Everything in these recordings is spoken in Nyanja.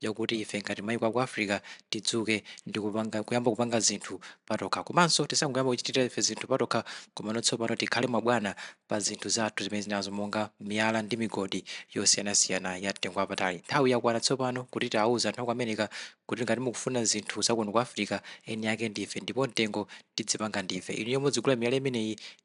yakuti ife ngati maiko aku Africa tidzuke ndi kuyamba kupanga zinthu patokha komanso tisangoyamba kuchitira ife zinthu patokha komano tsopano tikhale mabwana pa zinthu zathu zimene tilinazo monga miyala ndi migodi yosiyanasiyana ya mtengo wapatali. Nthawi yakwana tsopano kuti tiauze anthu aku America kuti ngati mukufuna zinthu zakuno ku Africa, eni ake ndife ndipo mtengo tidzipanga ndife. Inuyo mudzigula miyala imeneyi.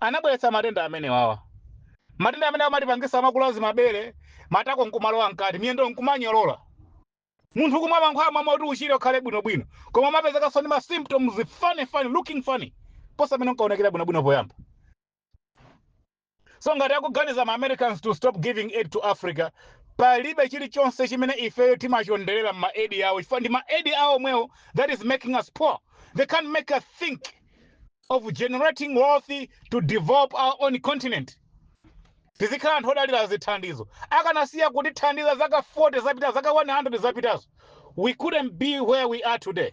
anabweretsa matenda amenewawa matenda amene amatipangisa makuluazi mabere matako nkumalowa mkati miyendo nkumanyolola munthu kumwa mankhwala mwa mwa uti uchire ukhale bwinobwino koma umapezekanso ndi ma symptoms funny funny looking funny posa mmene unkaonekera bwinobwino poyamba So ngati akuganiza ma Americans to stop giving aid to Africa, palibe chilichonse chimene ifeyo timachonderera mma aid awo ndi ma aid awo omwewo that is making us poor. They can't make us think of generating wealth to develop our own continent. Tizikhala anthu odalira zithandizo. Akanasiya kutithandiza zaka 40 zapita, zaka 100 zapitazo. We couldn't be where we are today.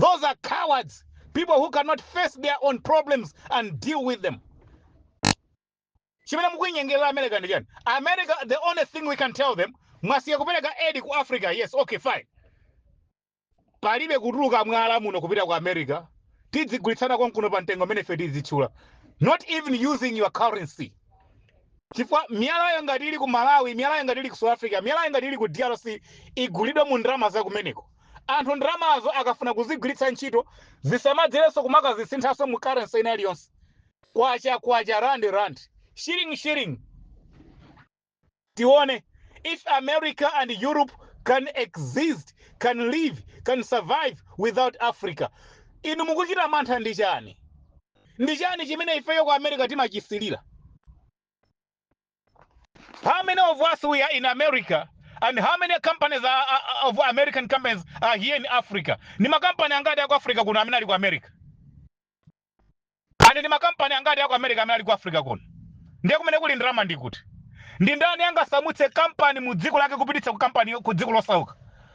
those are cowards people who cannot face their own problems and deal with them chimene mukuinyengerera america ndi chani america the only thing we can tell them mwasiya kupereka aid ku africa yes okay fine palibe kutuluka mwala muno kupita ku america tidzigulitsana konkuno pa mtengo umene ife tidzitchula not even using your currency chifukwa miyalayo ngati ili ku malawi miyalayo ngati ili ku south africa miyalayo ngati ili ku drc igulidwe mu ndalama zakumeneko anthu ndalamazo akafuna kuzigwiritsa ntchito zisamadzerenso kumakazisinthitsanso mu currency ina iliyonse kwacha kwacha rand rand shilling shilling tione if america and europe can exist can live can survive without africa inu mukuchita mantha ndi chani ndi chani chimene ifeyo ku america timachisilira How many of us we are in America and how many companies of American companies are here in Africa? Ndi makampani angati aku Africa kuno amene ali ku America? And ndi makampani angati aku America amene ali ku Africa kuno? Ndiye kumene kuli ndalama ndi kuti? Ndi ndani angasamutse kampani mu dziko lake kupititsa ku kampani ku dziko losauka?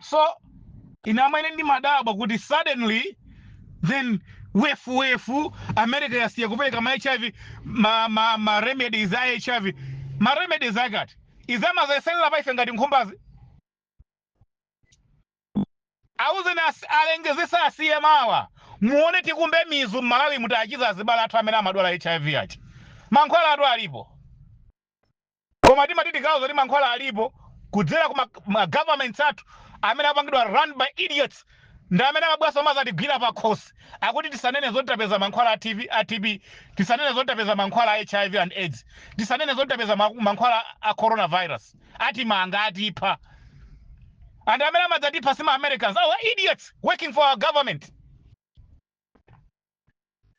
so ine mmene ndimadabwa kuti suddenly then wefu wefu america yasiya kupereka ma hiv ma, ma, ma remedies a hiv ma remedies akati izi amazayeserera pa ife ngati nkhumbazi auzeni alengezesa asiye mawa muone tikumbe mizu mmalawi muti tichiza azibale athu amene amadwala hiv achi mankhwalatu alipo Koma timati tikauze zoti mankhwala alipo kudzera ku ma governments athu amene apangidwa run by idiots ndi amene amabweranso kumazatigwira pakhosi akuti tisanene zoti tapeza mankhwala a TB, tisanene zoti tapeza mankhwala a HIV and aids, tisanene zoti tapeza mankhwala a corona virus. Atimanga, atipha. And amene amadzatipha si ma Americans, our idiots working for our government.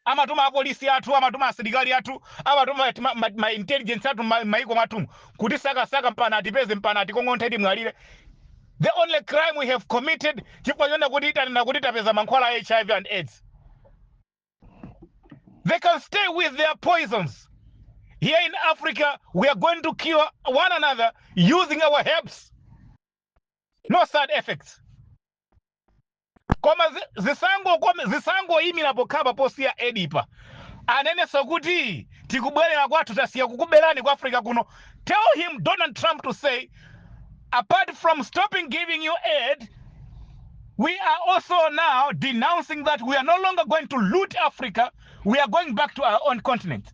amatuma apolisi athu amatuma asilikali athu amatuma ma, ma, ma intelligence athu ma- maiko mwathumu kutisakasaka mpana atipeze mpana atikong'onthe timwalire the only crime we have committed chifukwa chonena kuti tanena kuti tapeza mankhwala a hiv and aids they can stay with their poisons here in africa we are going to cure one another using our herbs no side effects Koma zi, zisangokome zisangoyimira pokhapa posiya Edipa anenenso kuti tikubwerera kwathu tasiya kukuberani ku Africa kuno tell him Donald Trump to say apart from stopping giving you aid we are also now denouncing that we are no longer going to loot Africa we are going back to our own continent.